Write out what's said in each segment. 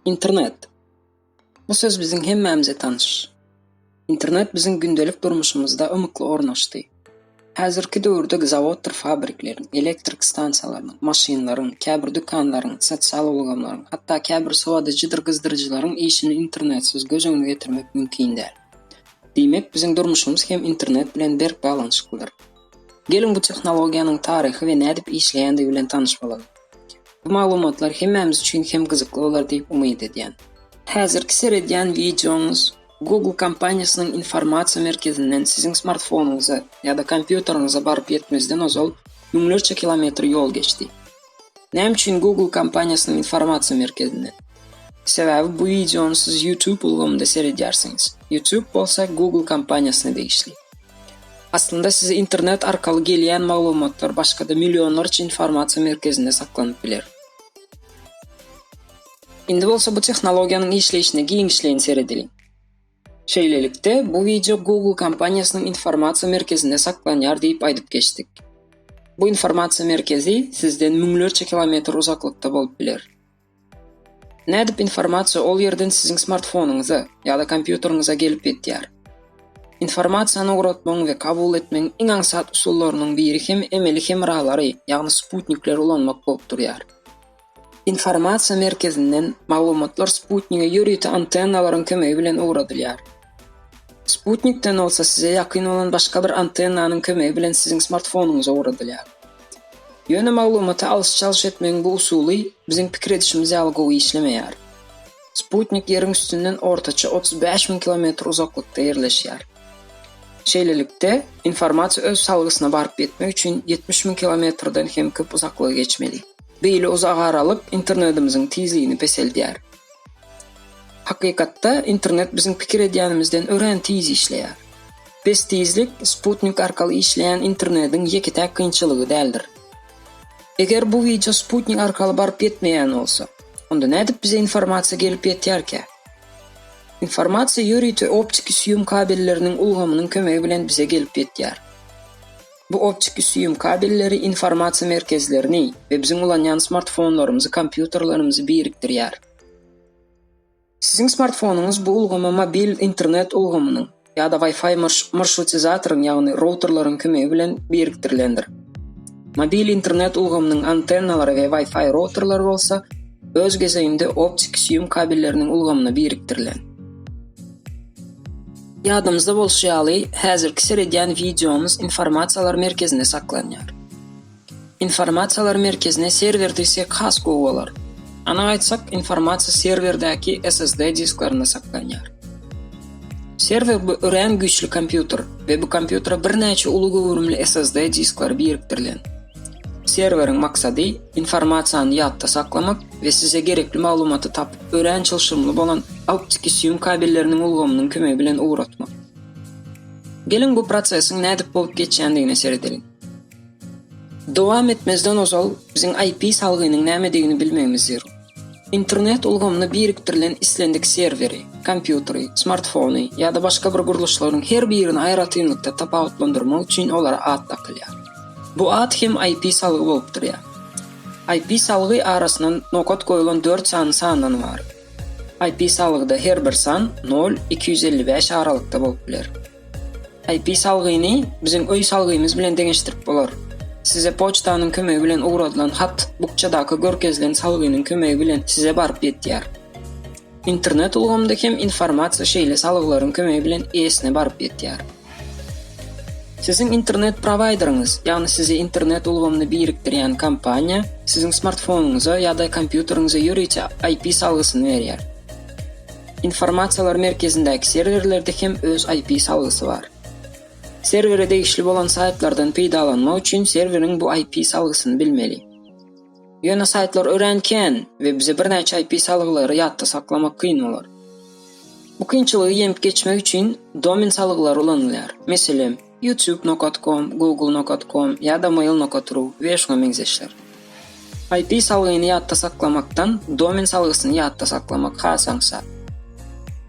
Internet. Bu söz biziň hemmämize tanyş. Internet biziň gündelik durmuşymyzda ymykly ornaşdy. Häzirki döwürde zawoddyr fabrikleriň, elektrik stansiýalarynyň, maşynlaryň, käbir dükanlaryň, sosial ulgamlaryň, hatda käbir sowadyjydyr gyzdyryjylaryň işini internetsiz göz öňüne getirmek mümkin däl. Diýmek, biziň durmuşymyz hem internet bilen berk baglanyşyklydyr. Geliň bu tehnologiýanyň taryhy we nädip işleýändigi bilen tanyş bolalyň. Bu maglumatlar hemmämiz üçin hem gyzykly bolar diýip umyt edýän. Häzirki seredýän wideoňyz Google kompaniýasynyň informasiýa merkezinden siziň smartfonyňyza ýa-da kompýuteriňize baryp ýetmezden ozal müňlerçe kilometr ýol geçdi. Näme üçin Google kompaniýasynyň informasiýa merkezinde? Sebäbi bu wideony siz YouTube ulgamynda seredýärsiňiz. YouTube bolsa Google kompaniýasyna degişli. Aslynda size internet arkaly gelýän maglumatlar başga-da millionlarça informasiýa merkezinde saklanyp biler. Indi bolsa bu tehnologiýanyň işleýşine giňişleýin seredeliň. Şeýlelikde, bu wideo Google kompaniýasynyň informasiýa merkezinde saklanýar diýip aýdyp geçdik. Bu informasiýa merkezi sizden müňlerçe kilometr uzaklykda bolup biler. Nädip informasiýa ol ýerden siziň smartfonyňyza ýa-da kompýuteriňize gelip ýetýär? Informasiýany ugratmagyň we kabul etmegiň iň aňsat usullarynyň biri hem emeli hemralary, ýagny sputnikleri ulanmak bolup durýar. Informasiýa merkezinden maglumatlar sputnige ýörite antennalaryň kömegi bilen ugradylýar. Sputnikden bolsa size ýakyn bolan başga bir antennanyň kömegi bilen siziň smartfonyňyza ugradylýar. Ýöne maglumaty alyş-çalyş etmegiň bu usuly biziň pikir edişimiz ýaly gowy işlemeýär. Sputnik Ýeriň üstünden ortaça otuz bäş müň kilometr uzaklykda ýerleşýär. Şeýlelikde, informasiýa öz salgysyna baryp ýetmek üçin ýetmiş müň kilometrden hem köp uzaklygy geçmeli. Beýle uzak aralyk internetimiziň tizligini peseldýär. Hakykatda, internet biziň pikir edýänimizden örän tiz işleýär. Pes tizlik sputnik arkaly işleýän internetiň ýeke-täk kynçylygy däldir. Eger bu wideo sputnik arkaly baryp ýetmeýän bolsa, onda nädip bize informasiýa gelip ýetýärkä? Informasiýa ýörite optiki süýüm kabelleriniň ulgamynyň kömegi bilen bize gelip ýetýär. Bu optiki süýüm kabelleri informasiýa merkezlerini we biziň ulanýan smartfonlarymyzy, kompýuterlerimizi birikdirýär. Siziň smartfonyňyz bu ulgama mobil internet ulgamynyň ýa-da Wi-Fi marşrutizatoryň, ýagny routerleriň kömegi bilen birikdirilendir. Mobil internet ulgamynyň antennalary we Wi-Fi routerleri bolsa öz gezeginde optiki süýüm kabelleriniň ulgamyna birikdirilen. Ýadymyzda bolşy ýaly, häzirki seredýän wideomyz informasiýalar merkezinde saklanýar. Informasiýalar merkezine serwer diýsek has gowy bolar. Anyk aýtsak, informasiýa serwerdäki SSD disklerinde saklanýar. Serwer bu örän güýçli kompýuter we bu kompýutere birnäçe uly göwrümli SSD diskleri birikdirilen. Serweriň maksady informasiýany ýatda saklamak we size gerekli maglumaty tapyp örän çylşyrymly bolan optiki süýüm kabelleriniň ulgamynyň kömegi bilen ugratmak. Geliň bu prosesiň nädip bolup geçýändigine seredeliň. Dowam etmezden ozal biziň IP salgynyň nämedigini bilmegimiz zerur. Internet ulgamyna birikdirilen islendik serweri, kompýuteri, smartfony ýa-da başga bir gurluşlaryň her birini aýratynlykda tapawutlandyrmak üçin olara at dakylýar. Bu at hem IP salgy bolup durýar. IP sawygy arasyna nokat goýulan dört sany sandan ybarat. IP sawygyda her bir san nol, iki ýüz elli bäş aralykda bolup biler. IP salgyny biziň öý salgymyz bilen deňeşdirip bolar. Size poçtanyň kömegi bilen ugradylan hat bukjadaky görkezilen salgynyň kömegi bilen size baryp ýetýär. Internet ulgamynda hem informasiýa şeýle salgylaryň kömegi bilen eýesine baryp ýetýär. Siziň internet prowaýderiňiz, ýagny sizi internet ulgamyny birikdirýän kompaniýa, siziň smartfonyňyza ýa-da kompýuteriňize ýörite IP salgysyny berýär. Informasiýalar merkezindäki serwerlerde hem öz IP salgysy bar. Serwere degişli bolan saýtlardan peýdalanmak üçin serweriň bu IP salgysyny bilmeli. Ýöne saýtlar örän kän we bize birnäçe IP salgylary ýatda saklamak kyn bolar. Bu kynçylygy ýeňip geçmek üçin domen salgylary ulanylýar. Meselem, YouTube nokat com, Google nokat com ýa-da Mail nokat ru we şuňa meňzeşler. IP salgyny ýatda saklamakdan domen salgysyny ýatda saklamak has aňsat.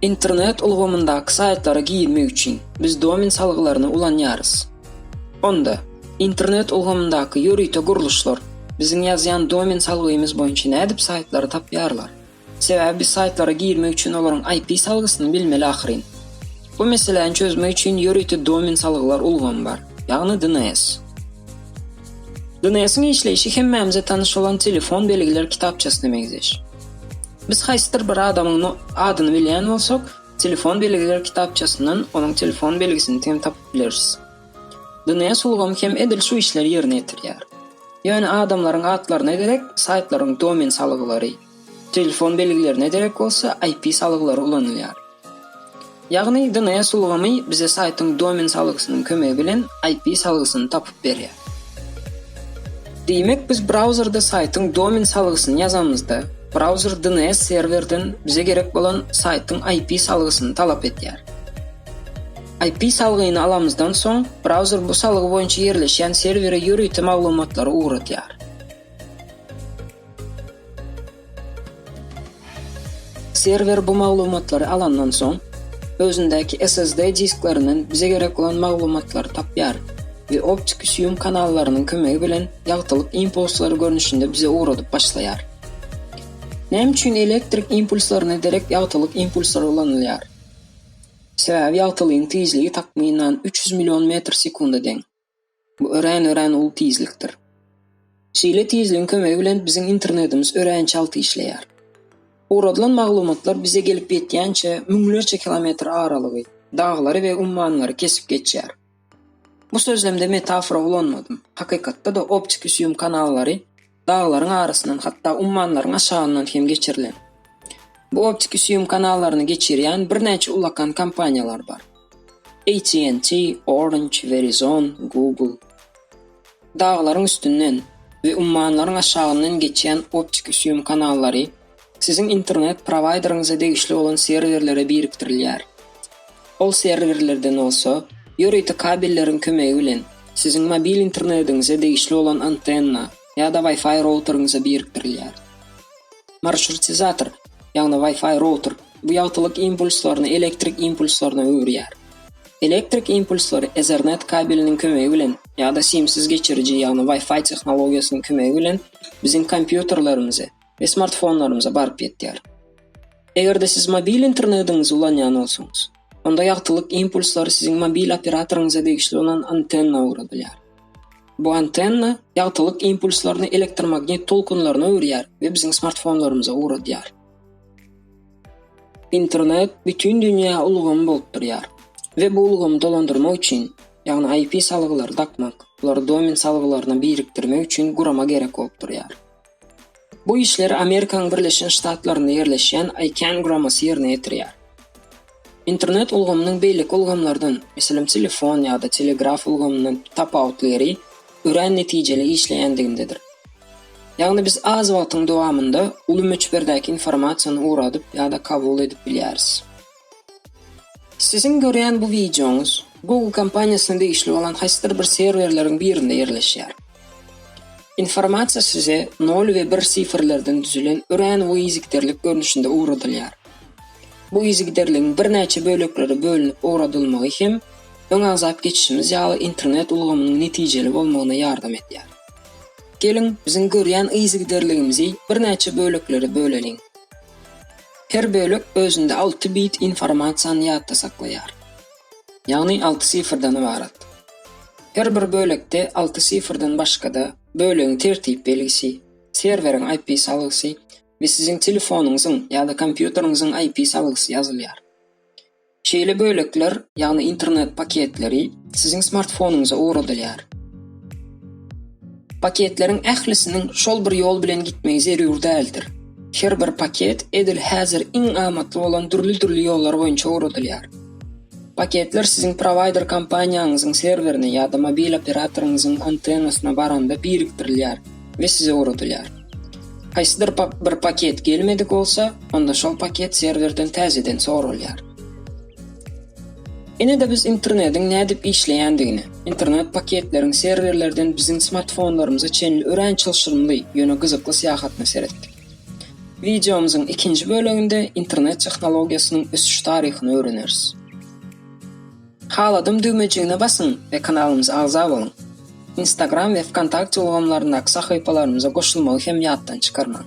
Internet ulgamyndaky saýtlara girmek üçin biz domen salgylaryny ulanýarys. Onda, internet ulgamyndaky ýörite gurluşlar biziň ýazýan domen salgymyz boýunça nädip saýtlary tapýarlar? Sebäbi biz saýtlara girmek üçin olaryň IP salgysyny bilmeli ahyryn. Bu meseläni çözmek üçin ýörite domen salgylar ulgamy bar, ýagny DNS. DNS-iň işleýşi hemmämize tanyş bolan telefon belgiler kitapçasyna meňzeş. Biz haýsydyr bir adamyň adyny bilýän bolsak, Telefon belgiler kitapçasyndan onuň telefon belgisini hem tapyp bileris. DNS ulgamy hem edil şu işleri ýerine ýetirýär. Ýöne adamlaryň atlaryna derek saýtlaryň domen salgylary, telefon belgilerine derek bolsa IP salgylary ulanylýar. Ýagny DNS ulgamy bize saýtyň domen salgysynyň kömegi bilen IP salgysyny tapyp berýär. Diýmek, biz brauzerde saýtyň domen salgysyny ýazamyzda, brauzer DNS serwerden bize gerek bolan saýtyň IP salgysyny talap edýär. IP salgyny alamyzdan soň, brauzer bu salgy boýunça ýerleşýän serwere ýörite maglumatlary ugradýar. Serwer bu maglumatlary alandan soň, özündäki SSD disklerinden bize gerek bolan maglumatlary tapýar we optiki süýüm kanallarynyň kömegi bilen ýagtylyk impulslary görnüşinde bize ugradyp başlaýar. Näme üçin elektrik impulslaryna derek ýagtylyk impulslary ulanylýar? Sebäbi ýagtylygyň tizligi takmynan üç ýüz million metr sekunda deň. Bu örän-örän uly tizlikdir. Şeýle tizligiň kömegi bilen biziň internetimiz örän çalt işleýär. Ugradylan maglumatlar bize gelip ýetýänçä müňlerçe kilometr aralygy, daglary we ummanlary kesip geçýär. Bu sözlemde metafora ulanmadym. Hakykatda-da optiki süýüm kanallary daglaryň arasyndan, hatda ummanlaryň aşagyndan hem geçirilen. Bu optiki süýüm kanallaryny geçirýän birnäçe ulakan kompaniýalar bar. AT&T, Orange, Verizon, Google. Daglaryň üstünden we ummanlaryň aşagyndan geçýän optiki süýüm kanallary Siziň internet prowaýderiňize degişli bolan serwerlere birikdirilýär. Ol serwerlerden bolsa, ýörite kabelleriň kömegi bilen siziň mobil internetiňize degişli bolan antenna ýa-da Wi-Fi routeriňize birikdirilýär. Marşrutizator, ýagny Wi-Fi router, bu ýagtylyk impulslaryny elektrik impulslaryna öwürýär. Elektrik impulslary Ethernet kabeliniň kömegi bilen ýa-da simsiz geçiriji, ýagny Wi-Fi tehnologiýasynyň kömegi bilen biziň kompýuterlerimize, we smartfonlarymyza baryp ýetýär. Eger-de siz mobil internetiňizi ulanýan bolsaňyz, onda ýagtylyk impulslary siziň mobil operatoryňyza degişli bolan antenna ugradylýar. Bu antenna ýagtylyk impulslaryny elektromagnit tolkunlaryna öwürýär we biziň smartfonlarymyza ugradýar. Internet bütin dünýä ulgamy bolup durýar we bu ulgamy dolandyrmak üçin, ýagny IP salgylary dakmak, olary domen salgylaryna birikdirmek üçin gurama gerek bolup durýar. Bu işleri Amerikanyň Birleşen Ştatlarynda ýerleşýän ICANN guramasy ýerine ýetirýär. Internet ulgamynyň beýleki ulgamlardan, meselem, telefon ýa-da telegraf ulgamyndan tapawutly ýeri örän netijeli işleýändigindedir. Ýagny biz az wagtyň dowamynda uly möçberdäki informasiýany ugradyp ýa-da kabul edip bilýäris. Siziň görýän bu wideoňyz Google kompaniýasyna degişli bolan haýsydyr bir serwerleriň birinde ýerleşýär. Informasiýa size nol we bir sifrlerden düzülen örän uly yzgiderlik görnüşinde ugradylýar. Bu yzgiderligiň birnäçe böleklere bölünip ugradylmagy hem öň agzap geçişimiz ýaly internet ulgamynyň netijeli bolmagyna ýardam edýär. Geliň, biziň görýän yzgiderligimizi birnäçe böleklere böleliň. Her bölek özünde alty bit informasiýany ýatda saklaýar. Ýagny alty sifrden ybarat. Her bir bölekde alty sifrden başga-da, bölegiň tertip belgisi, serweriň IP salgysy we siziň telefonyňyzyň ýa-da kompýuteriňiziň IP salgysy ýazylýar. Şeýle bölekler, ýagny internet paketleri siziň smartfonyňyza ugradylýar. Paketleriň ählisiniň şol bir ýol bilen gitmegi zerur däldir. Her bir paket edil häzir iň amatly bolan dürli-dürli ýollar boýunça ugradylýar. Paketler siziň prowaýder kompaniýaňyzyň serwerine ýa-da mobil operatoryňyzyň antennasyna baranda birikdirilýär we size ugradylýar. Haýsydyr bir paket gelmedik bolsa, onda şol paket serwerden täzeden soralýar. Ine-de biz internetiň nädip işleýändigini, internet paketleriň serwerlerden biziň smartfonlarymyza çenli örän çylşyrymly, ýöne gyzykly syýahatyna seretdik. Wideomyzyň ikinji böleginde internet tehnologiýasynyň ösüş taryhyny öwreneris. Haladym düwmejigine basyň we kanalymyza agza boluň. Instagram we Vkontakte ulgamlaryndaky sahypalarymyza goşulmagy hem ýatdan çykarmaň.